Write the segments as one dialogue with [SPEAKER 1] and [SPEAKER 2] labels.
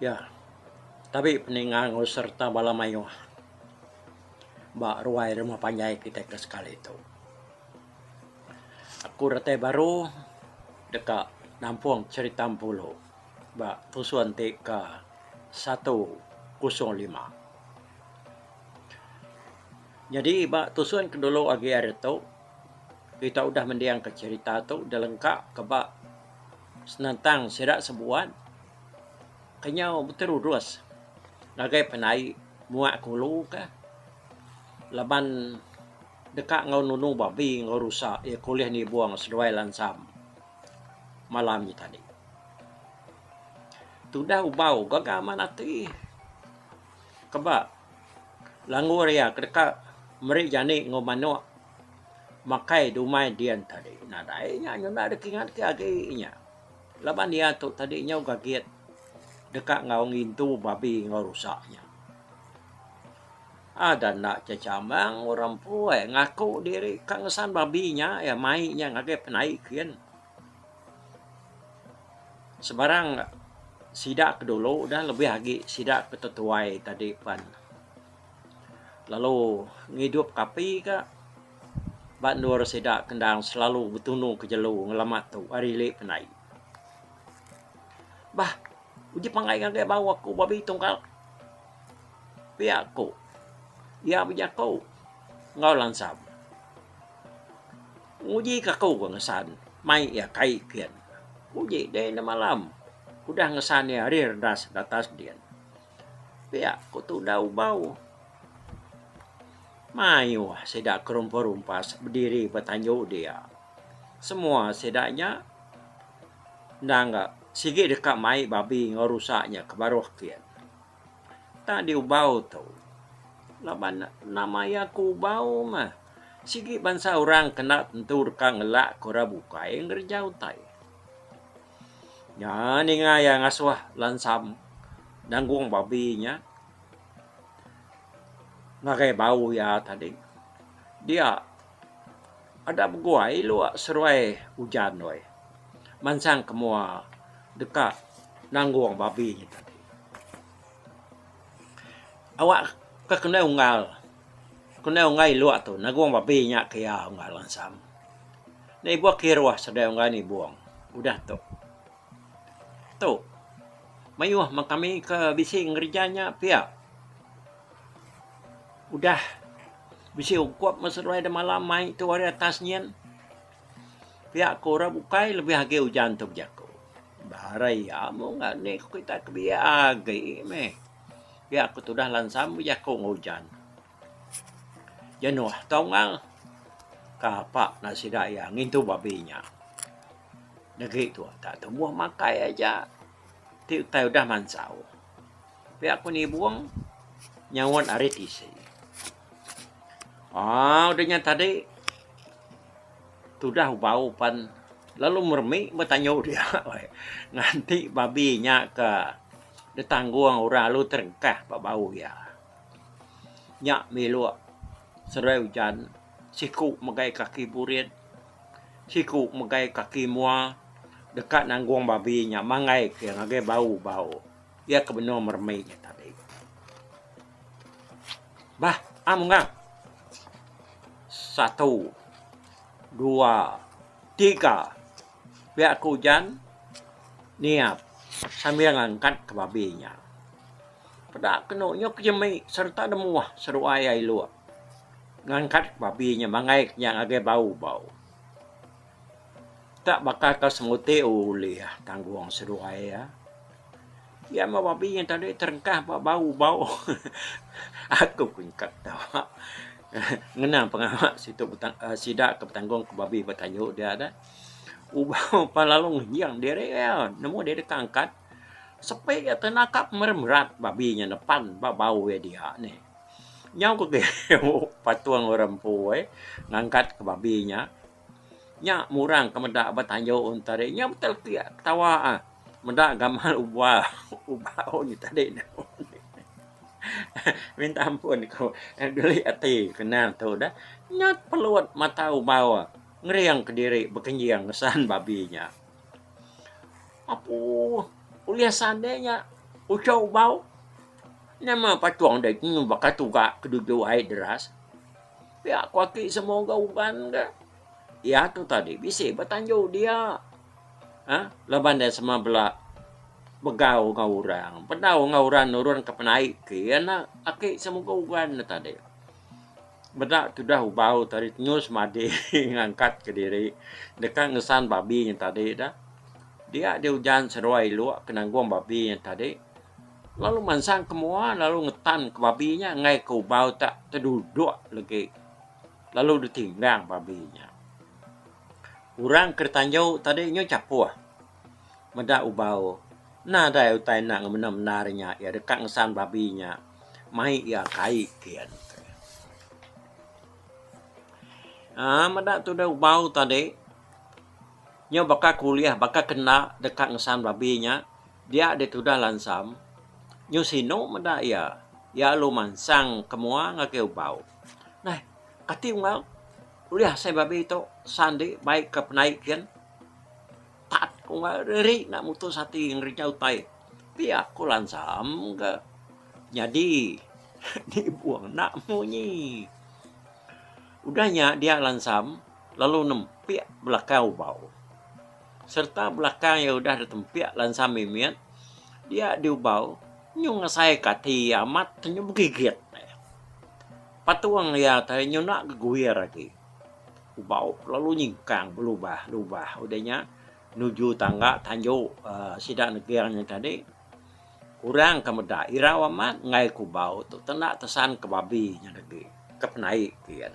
[SPEAKER 1] Iya, tabi peninga enggau sereta bala mayuh ba ruai rumah panjai kitai ke sekali tu. Aku datai baru deka nampung cherita Empulu. ba pusun ti ke satu kosong lima. Nyadi ba tusun ke dulu agi hari tu kita udah mending ka cherita tu dilengka ka ba senentang sida sebuat ke nyau beterurus ngagai penai muak ke ulu ka laban deka enggau nunu babi enggau rusa iya ke ulih nibung seduai lansam. malam nya tadi. Tudah ubau gaga amat ati keba langgur iya ke deka meri jani enggau manok makai dumai din tadi. Nadai nya nyenda deka ingat ke agi nya. Laban iya tu tadi nyau gagit deka enggau ngintu babi enggau rusa nya. Ada enda chechamang orang empu ai ngaku diri ka ngesan babi nya iya mai nya ngagai penai kin. Sebarang sida ke dulu dah lebih agi sida ke tetuai tadi pen lalu ngidup ke api ka ba endur sida ke endang selalu betunu ke jelu ngelamat tu ari ili penai. Bah uji pangai ngagai bau aku babi tungkal. Pia ku iya bejaku enggau langsam. Nguji ke aku ke ngesan mai iya kai kian. Uji dei enda malam udah ngesan iya ari redas datas din. Pia ku tudah ubau. Mayuh sida ke rumpas rumpas bediri ba tanju dia. Semua sida nya endang ga sigi deka mai babi enggau rusa nya ke baruh kian. Tang di ubau tu laban ne enda maya ke ubau meh sigi bansa orang kena tentu deka ngelak ke orang bukai ngereja utai. Ngan inya iya ngasuh lansam nanggung babi inya ngagai bau iya tadi dia Ada beguai lok seruai ujan doi. Mansang ke mua deka nanggung babi nyi tadi. Awak ke kendai unggal, kendai unggal ilok tu nanggung babi nya ke iya unggal ansang. Nya ibuh kiruh sedia unggal nibung udah tu. Tu mayuh meh kami ke bisi ngereja nya pia. Udah bisi ungkup meh seduai da malam mai tu ari atas nyin. Pia ku orang bukai lebih agi ujan tu bejaku. Ba re iya mung ga ni ku kitai ke biak agi meh. Pia ku tudah lansam bejaku enggau ujan. Jenuh tau ngal. Kapa nak sida iya ngintu babi nya. Negi tu tak tumbuh makai aja ti utai udah mansau. Pia aku nibung nyaut ari tisi. Ah, udah nya tadi tudah bau pan lalu meremi betanyu dia weh. Nganti babi nya ke ditanggung orang lalu terengkah ba bau iya. Nya mih lu seduai ujan siku megai kaki burit. Siku megai kaki mua deka nanggung babi nya manggai ke ngagai bau bau iya ke benung meremik nya tadi. Bah am mengah. Satu dua tiga pia ke ujan niap sambil ngangkat ke babi nya. Peda kenu nyuk jemik sereta nemuah seruai iya ilok. Ngangkat babi nya mangai ke nya ngagai bau-bau. Tak baka ke semuti ulih tanggung seduai iya. Iya meh babi nya tadi terengkah ba bau-bau. Aku pun ka ketawa. Ngena pengawa situ sida ke betanggung ke babi ba tanyu dia dah. Ubau pan lalu ngejing diri iya nemu diri ke angkat. Sepi iya tenakap meremerat babi nya nepan ba bau iya dia nih. Nyau ke geo patung orang empu ai ngangkat ke babi nya. Nya murang ke meda ba tayo un tadi. Nya betul ti ketawa ah meda gamal uba uba un nya tadi nya. Minta ampun ku geli ati kena tu dah. Nya pelut mata ubau ngering kediri bekenjing ngesan babi nya. Apuh ulih sande nya uchau ubau. Nama patung dai kenu baka tuga ke duju ai deras? Pia ku aki semua ga ugan ga. Ia tu tadi bisi ba tanju dia. Ha? Laban dia sema bela begau enggau orang, bedau enggau orang nurun ke penai ke ia enda aki semua ga ugan ne tadi. Meda tudah ubau tadi tenyu semadi ngangkat ke diri deka ngesan babi nya tadi dah. Dia di ujan seruai lok ke nanggung babi nya tadi. Lalu mansang ke mua lalu ngetan ke babi nya enggai ke ubau tak tedudok legi lalu ditinggang babi nya. Orang ke ditanju tadi nyu chapoh meda ubau enda dai utai enda ngemendar mendar nya iya deka ngesan babi nya mai iya kai kian. Aa meda tuduh ubau tadi nyu baka kulih baka kenda deka ngesan babi nya. Dia ditudah lansam, nyu sinu meda iya. Iya alu mansang ke mua ngagai ubau. Neh, kati unggal ulih asai babi tu san di bai ke penai kin? Tat ku unggal ri ri enda mutus ati ngerinja utai. Pia ku lansam ke nyadi nibung enda munyi. Udah nya dia lansam lalu nempik belakang ubau. sereta belakang iya udah ditempik lansa mimit dia diubau nyu ngesaika ati iya amat ke nyu begigit iya. Patung iya te nyu enda geguir agi. Ubau ke lalu nyingkang belubah lubah udah nya nuju tangga tanju aaa sida neging nya tadi kurang ke meda irau amat enggai ke ubau tu te enda tesanka babi nya tadi ke penai kiyen.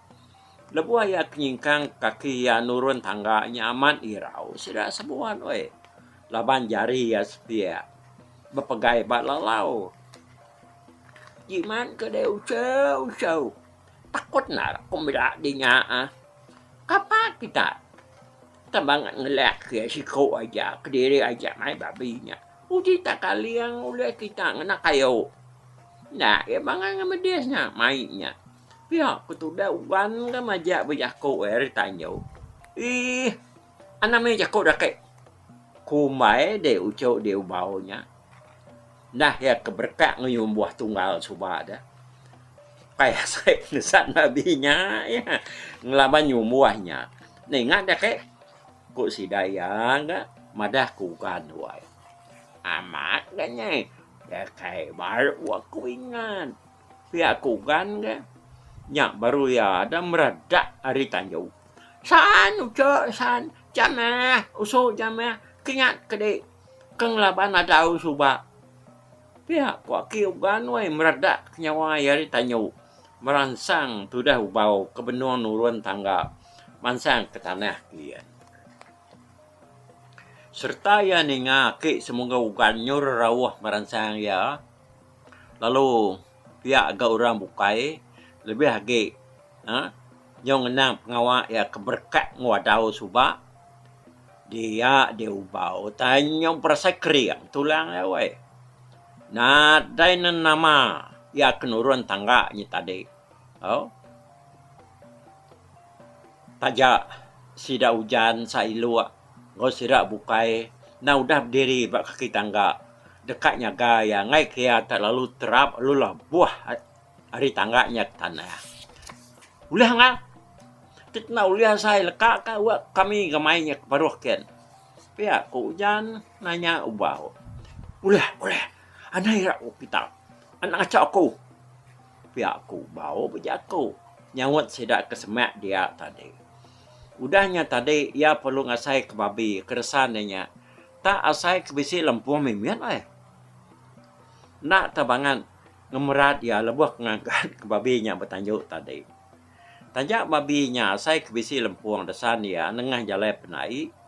[SPEAKER 1] Lebuh iya ke nyingkang kaki iya nurun tangga nya amat irau sida sebuan weh laban jari iya sepiak bepegai ba lalau. Jimat ke deh useu-useu. Takut endar aku meda deh nya ah. Kapa kita tambah ngan ngelak ke iya siko aja kediri aja mai babi nya. Uji takaling ulih kita ngena kayu. Enda iya bangai ngan medis nya mai nya. Pia ku tudah Wan ga majak bejaku iya ari tanyu. Ih, anang mih jaku da kai kumbai deh uchu deh ubau nya. Nah iya ke berekak ngeyun buah tunggal suba deh. Kai asai nesat babi nya iya ngelaban nyun buah nya. Ninga da kai ku sida iya ga madah ku Wan wai. Amat ga nyai. Iya kai baru aku ingat. Pia aku gan ga. Nya baru iya ada meradak ari tanju. San ucha san. Jamah usu jamah kinyat kedi ke ngelaban adau suba. Pia ku aki ugan wai meradak ke nyawa iya ari tanju meransang tudah ubau ke benung nurun tangga mansang ke tanah kian. Serta iya ninga aki semungga ugan nyur rauh meransang iya. lalu pia ga orang bukai lebih agi aaa nyau ngenang pengawa iya ke berekat enggau adau suba dia diubau tai nyau berasa kering tulang iya weh. Nadai ne nama iya ke nurun tangga nya tadi tau taja sida ujan sa ilok. Enggau sida bukai enda udah bediri ba kaki tangga deka nyaga iya enggai ke iya tak lalu terap lalu labuh ari tangga nya ke tanah. Ulih angai tit enda ulih asai leka ka wak kami ngemai nya ke baruh ken. Pia ku ujan nanya ubau. Ulih ulih anai ira ku kita anak ngaca aku. Pia ku ubau bejaku nyaut sida ke semak dia tadi. Udah nya tadi iya perlu ngasai ke babi ke resan iya nya. Tak asai ke bisi lempuh mimit ai. Enda tau bangat ngemerat iya lebuh ke ngagat ke babi nya betanju tadi. Taja babi nya asai ke bisi lempung resan iya nengah jalai penai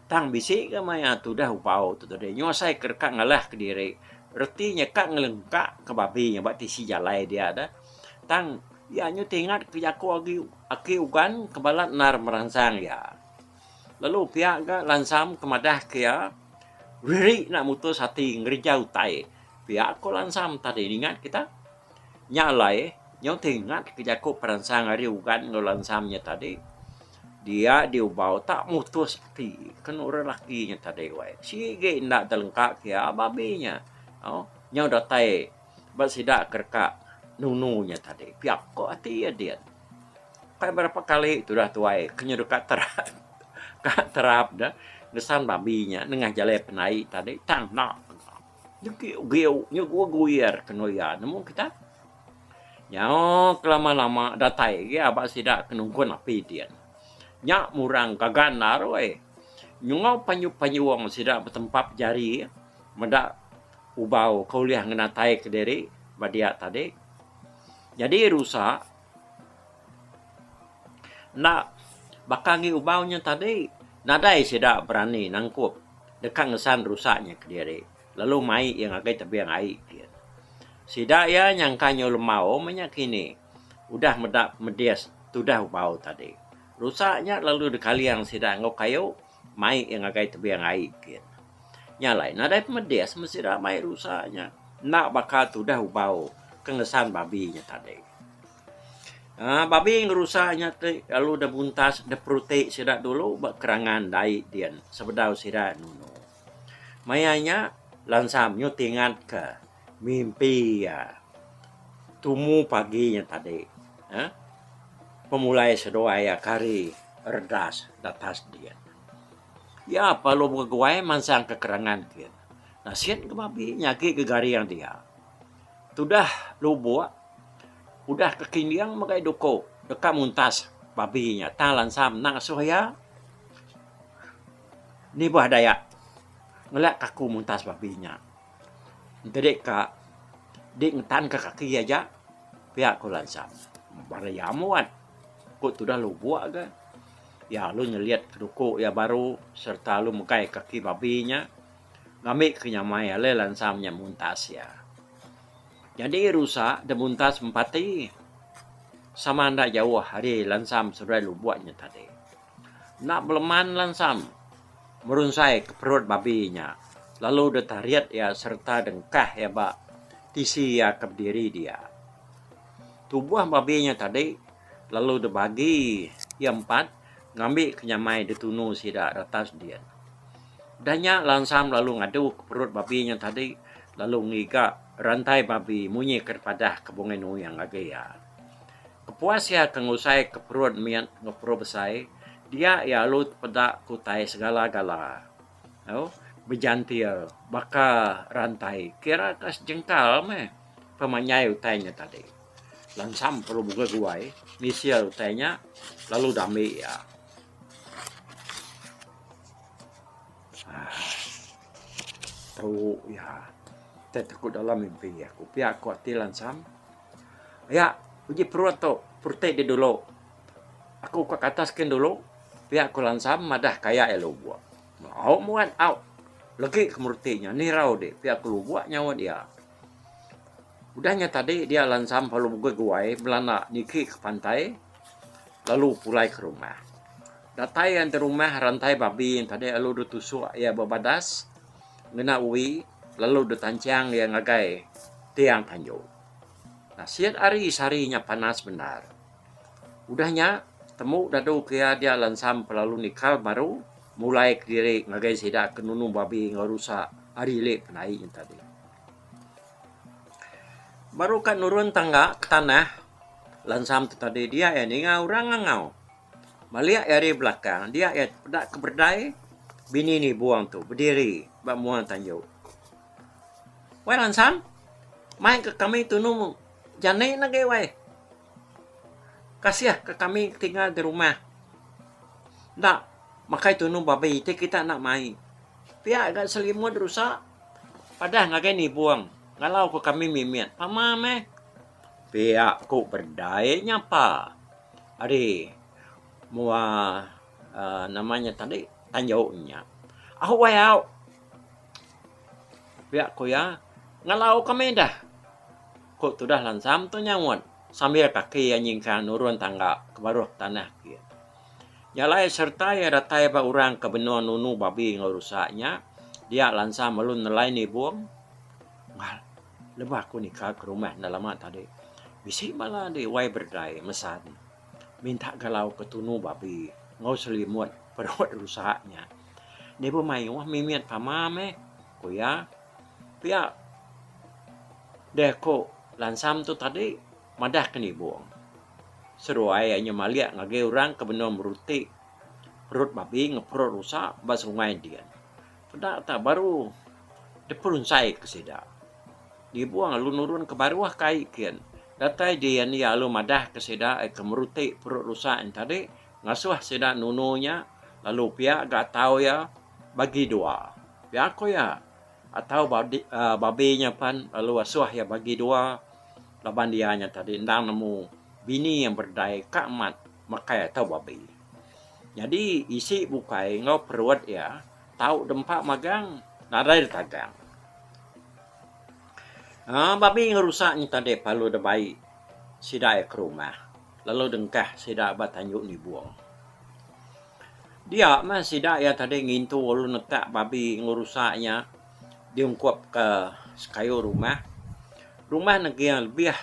[SPEAKER 1] tang bisi ga maya tudah ubau tu tadi nyu asai ke deka ngalah ke diri reti nya ka ngelengka ke babi nya ba tisi jalai dia dah tang Iya nyuti ingat ke jaku agi aki Ugan ke balat endar meransang iya. Lalu pia ga Lansam ke madah ke iya, Riri enda mutus ati ngerija utai. Pia ko Lansam tadi ningat kita. Nya alai nyuti ingat ke jaku peransang ari Ugan enggau Lansam nya tadi. Dia diubau tak mutus ati ke enu orang laki nya tadi wai. Sigi enda telengka ke iya babi nya. Nyau datai. Ba sida ke deka nunu nya tadi pia ko ati iya din. Ukai berapa kali tudah tuai ke nyu deka terap ka terap deh ngesan babi nya nengah jalai penai tadi tang enda enda. Nyu giu giu nyu guir guir kenu iya nemu kita. Nyau ke lama lama datai agi aba sida ke nungkun api din. Nya murang gaga enda roi. Nyungau panyu panyuong sida betempap jari. Meda ubau ke ulih ngenataika diri ba dia tadi nyadi rusa enda baka agi ubau nya tadi nadai sida berani nangkup deka ngesan rusa nya kediri lalu mai iya ngagai tebing ai kiye. Sida iya nyangka nyau lembau meh nya kini udah meda medis tudah ubau tadi. Rusa nya lalu dikaling sida enggau kayu. Mai iya ngagai tebing ai gin. Nya alai nadai pemedis meh sida mai rusa nya. Enda baka tudah ubau ke ngesan babi nya tadi. Aaa babi ngerusa nya ti lalu deh buntas deh peruti sida dulu ba kerangan dai din sebedau sida nunu. Maya nya lansa menyut ingatka Mimpi iya tumu pagi nya tadi pemulai seduai iya kari redas datas diin. Iya perlu beguai mansang ke kerengan ke nasin ke babi nyagi ke garing dia. Tudah lubok udah ke kinding mega iya duko deka muntas babi nya tang lansa menda ngasuh iya nibah dayak ngela kaku muntas babi nya. Entede ka di ngetanka kaki aja pia ku lansa. Bala iya muat ku tudah lubok ga iya lalu nyelit duku iya baru sereta lalu megai kaki babi nya ngambika nyamai alai lansa nya muntas iya. Nyadi rusa da muntas empati sama enda jauh ari lansa meseberai lubok nya tadi. Enda beleman lansam merunsai ke perut babi nya lalu deh tarit iya sereta dengkah iya ba tisi iya ke bediri dia. Tuboh babi nya tadi lalu deh bagi iya empat ngambi ke nyamai deh tunu sida retas din. Udah nya lansam lalu ngadu ke perut babi nya tadi lalu ngiga rantai babi munyi ke padah ke Bungei Nuyung agi iya. Kepuas iya ke ngusai ke perun mit enggau perun besai, dia iya alu tepeda ke utai segala-gala. Au, bejantil baka rantai kira ka sejengkal meh pemanyai utai nya tadi. Langsam perlu mugah guai misil utai nya lalu dami iya. Aaa, tau iya. Utai ti ku dalam mimpi aku. Pia ku ati langsam. Pia uji perut tu perutih di dulu. Aku ka katas kin dulu pia ku lansam madah ka iya lubok. Au muat au legi ke meruti nya nirau di pia ku lubok nyaut iya. Udah nya tadi dia lansam lalu pegui guai belanda niki ke pantai lalu pulai ke rumah. Datai iya enti rumah rantai babi yen tadi lalu deh tusok iya ba badas. Ngena ui lalu detancang iya ngagai tiang tanju. Nasit ari sehari nya panas bendar. Udah nya, temu dadu ke iya dia lansam kelalu nikal baru mulai kediri ngagai sida ke nunu babi enggau rusa ari ili penai nya tadi. Baru ka nurun tangga ke tanah lansam tu tadi dia iya ninga orang ngangau. Balik iya ari belakang dia iya peda ke berdai bini ni buong tu bediri ba mua tanju. Wai Lansan, mai ke kami tunu jani ne agi wai. Kasih ke kami tinggal di rumah enda makai tunu babi ti kita enda mai. Pia ga selimut rusa padah ngagai ni buong ngalau ke kami mimit. Pama meh. Pia ku berdai nyapa. Ari mua aaa nama nya tadi tanjau nya. Au wai au. Pia ku iya ngalau ka meda. Ku tudah lansam tu nyaut sambil kaki iya nyingkang nurun tangga ke baruh ke tanah kiye. Nya alai sereta iya datai ba orang ke benung nunu babi enggau rusa nya dia lansam lalu nelai nibung. Lebuh aku nikal ke rumah enda lama tadi, bisi bala andi wai berdai mesan minta galau ke tunu babi enggau selimut perut rusa nya. Deh be mayuh mimit pama meh, ku iya. Pia deh aku lansam tu tadi madah ke nibung seruai iya nyemalik ngagai orang ke benung meruti perut babi enggau perut rusa ba sungai din. Peda ta baru diperunsai ke sida. Dibuh alu nurun ke baruh ke ai kin. Datai dian iya alu madah ke sida ai ke meruti perut rusak nya tadi ngasuh sida nunu nya lalu pia ga atau iya bagi dua. Pia ko iya atau ba aaa babi nya pen lalu asuh iya bagi dua laban iya nya tadi enda nemu bini yang berdai ka amat. mekai atau babi. Nyadi isi bukai enggau perut iya tau dempa magang nadai ditagang. Aa babi ngerusak nya tadi pelalu deh bai sida iya ke rumah lalu dengkah sida ba tanjung nibong. Dia meh sida iya tadi ngintu lalu nekak babi ngerusak nya diungkup ke sekayu rumah. Rumah neging lebih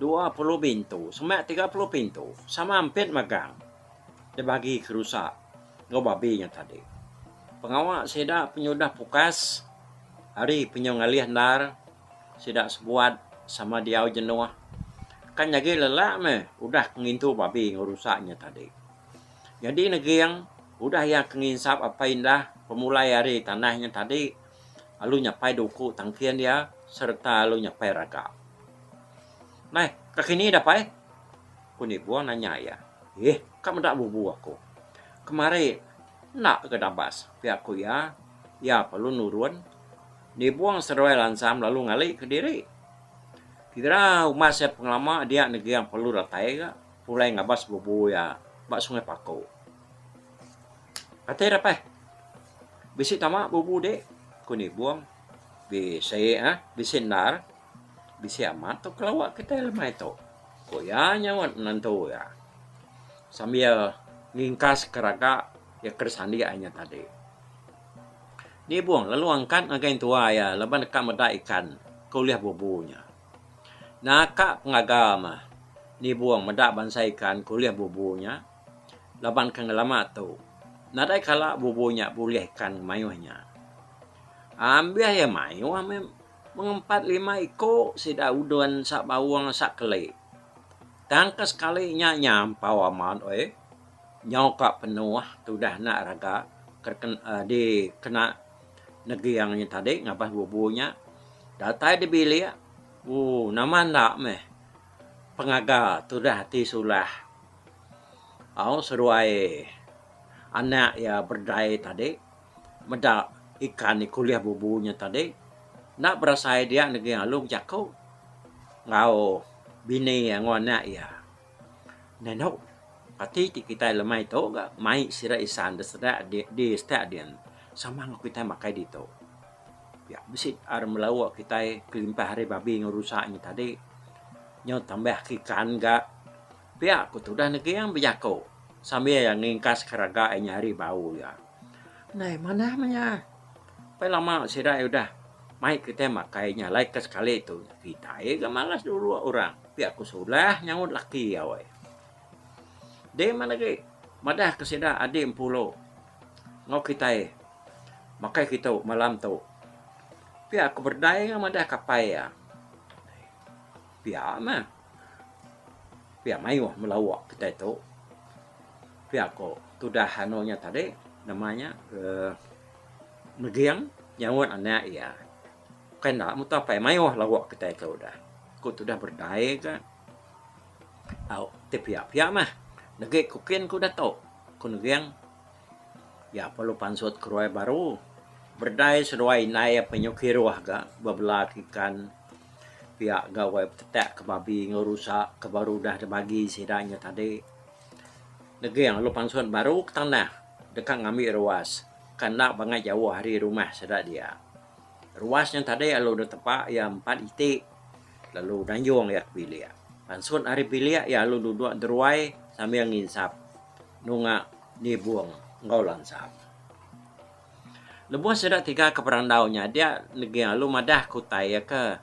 [SPEAKER 1] Dua puluh bintu semak tiga puluh pintu sama ampit megang dibagi ke rusa enggau babi nya tadi. Pengawa sida penyudah pukas ari penyu ngalih endar sida sebuat sama diau jenuh kan nyadi lelak meh udah ke ngintu babi enggau rusa nya tadi. Nyadi neging udah iya ke nginsap apai indah pemulai ari tanah nya tadi. Alu nyapai duku tangkin iya sereta alu nyapai raga. Mai, ka kini dah pai? ku Nibong nanya iya. Iih, ka meda bubu aku. Kemari enda ke dabas pia ku iya. Iya pa lu nurun. Nibong seruai lansam lalu ngali ke diri. Kira umas iya pengelama dia neging pa lu datai ga pulai ngabas bubu iya ba Sungai Paku. Atai dapai. Bisi tama bubu dek ku nibung bisi ah bisi endar bisi amat tu kelawa kitai lemai tu ku iya nyaut menantu iya sambil ngingkas ke raga iya ke disandik inya tadi. Nibung lalu angkat ngagai entua iya laban deka meda ikan ke ulih bubu nya. Naka pengaga mah nibung meda bansa ikan ke ulih bubu nya. laban ke ngelama tu nadai kala bubu nya bulih ikan mayuh nya. Ambih iya mayuh meh mengempat lima iko sida udon sak baung sak keli. Tang ke sekali nya nyampau amat weh. Nyau ka penuh tudah enda rega ke dikena neging nya tadi ngabas bubu nya. Datai di bilik ooh nama enda meh. pengaga tudah ti sulah au seduai anak iya berdai tadi meda ikan iku ulih bubu nya tadi enda berasai dia negi lalu bejaku enggau bini iya enggau anak iya nah inu reti ti kitai lemai tu ga mai sida isan da sida di sida din sama kitai makai ditu. Pia bisi ar melauk kitai kelimpah ari babi enggau rusa nya tadi. Nyau tambah ke ikan ga. Pia ku tudah Neging bejaku sambil iya ngingkas keraga inya ari bau iya. Nai manah meh iya. Pai lama sida iya udah mai kitai makai nya alai ke sekali tu. Kitai ga malas dulu orang. Pia ku Sulah nyaut laki iya. Deh meh agi madah ke sida adik empu lu. Enggau kitai makai kitu malam tu. Pia ku berdai iya madah kapai iya. Pia meh. Pia mayuh melawa kitai tu. Pia ku tudah anu nya tadi nama nya uhh Neging nyaut anak iya. Bukai enda mutoh apai mayuh lawa kitai tu udah. Ku tudah berdai ka. Au, ti pia-pia meh. Degi ku kin ku dato, ku Neging, iya perlu pansut keruai baru. Berdai seduai indai iya penyuh kiruh ga bebela ke ikan pia gawa betetak ke babi enggau rusa ke baru udah dibagi sida inya tadi. Neging lalu pansut baru ke tanah deka ngambi ruas ke enda bangai jauh ari rumah sida dia. Ruas nya tadi lalu deh tepa iya empat iti lalu nanjung iya ke bilik. Pansut ari bilik iya lalu duduk deruai sambil nginsap nunga nibung enggau lansap. Lebuh sida tiga ke berandau nya dia Neging lalu madah ke utai iya ke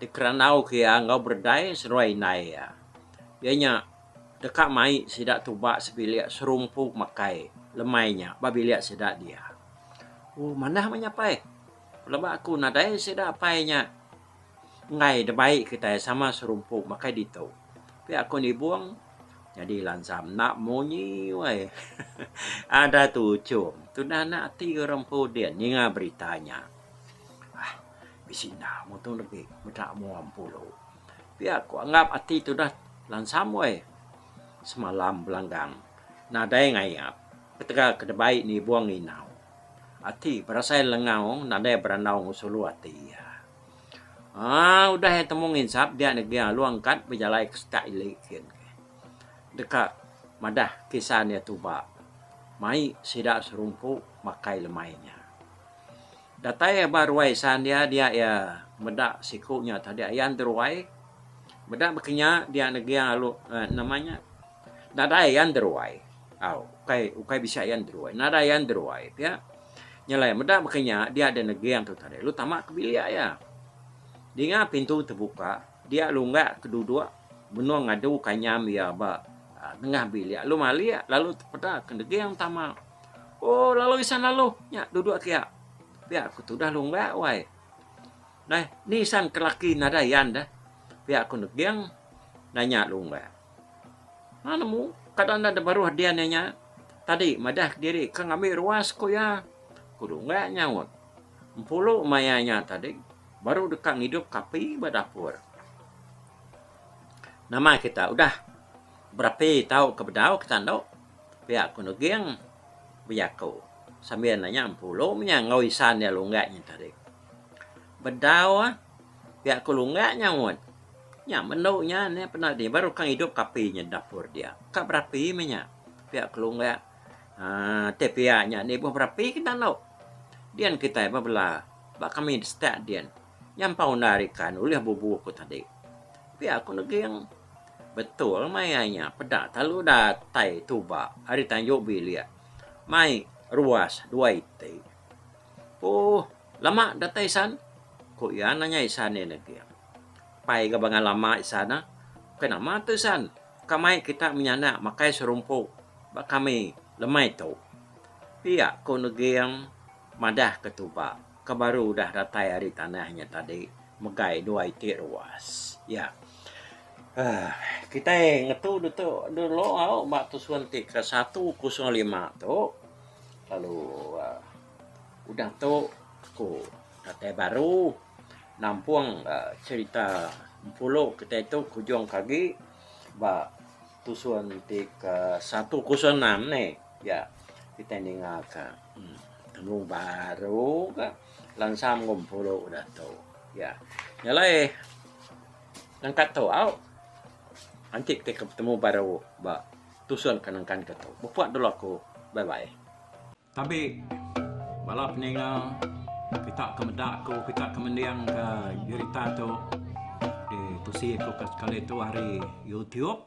[SPEAKER 1] dikerandau ke iya enggau beredai seduai indai iya. Iya nya deka mai sida tuba sebilik serumpu makai lemai nya ba bilik sida dia. Ooh manah meh nyapai leba aku nadai sida apai nya enggai da bai kitai sama serumpu makai ditu tapi aku nibung nyadi lansa enda munyi wai ada tuchum tudah anak ati orang empu din ninga berita nya aah bisi enda mutung legi meda mua empu lu tapi aku anggap ati tudah lansam wai. Semalam belanggang nadai ngayap ketegal ke debai nibung inau. Ati berasai lengau nadai berandau ngusung lu ati iya. Aa udah iya temu nginsap dia negi alu angkat bejalai ke setak ili kin ke. Deka madah kisan iya tuba mai sida serumpu makai lemai nya. Datai ba ruai isan iya dia iya meda siku nya tadi ayan ti ruai meda baka nya dia neging alu nama nya nadai ayan ti ruai au ukai ukai bisi ayan ti ruai nadai ayan ti ruai pia nya alai meda baka nya dia da neging tu tadi lu tama ka bilik iya dinga pintu tebuka dia lunggak ke duduk benung ngadu ka nyam iya ba nengah bilik lu malik lalu tepeda ke neging tama. Oh lalu isan lalu nya dudok kia pia aku tudah long ba wai neh ni isan ke laki nadai yan deh pia aku neging nanya long ba man mu kada enda beruh dian inya tadi madah diri ke ngambi ruas ku iya ku long ba nyaut empulu maya nya tadi baru deka ngidup ka api ba dapur nama kita udah berapi tau ke bedau kita endo. Pia ku Nuging bejaku sambil nanya empu lu nya enggau isan iya Lunggat nya tadi. Bedau pia ku Lunggat nyaut, Nya melu nya ne peda dih baru kang idup ke api nya dapur dia. Ka berapi meh nya. Pia ku Lunggat aaa ti pia nya nibuh berapi ke enda lu. Din kitai ba bela ba kami setak din. Nya empa undai ari kan ulih bubu aku tadi. Pia aku neging. Betul maya nya peda talu datai tuba ari tanjung bilik mai ruas dua iti. Ooh lama datai isan? ku iya nanya isan iya neging. Pai ga bangan lama isan ah. Bukai nama tu isan. Ka mai kita menyanak makai serumpu ba kami lemai tu. Pia ku neging madah ke tuba. ke baru udah datai ari tanah nya tadi megai dua iti ruas. Ya. Aaa kitai ngetu ditu dulu au ba tusun ti ke satu kosong lima tu lalu aaa udah tu ku datai baru nampung aaa cherita Empulu kitai tu ke ujung ke agi ba tusun ti ke satu kosong enam ni. Ya kitai ninga ka. Tanggung baru ka lansam ngumpulu datu iya. Nya alai nangka tu au anti ti ke betemu baru ba tusun ke nengkan ke tu. Beput dulu aku. Bye bye. Tabi bala peninga kita ke meda ku kita ke mending ke berita tu ditusi ku sekali tu ari YouTube.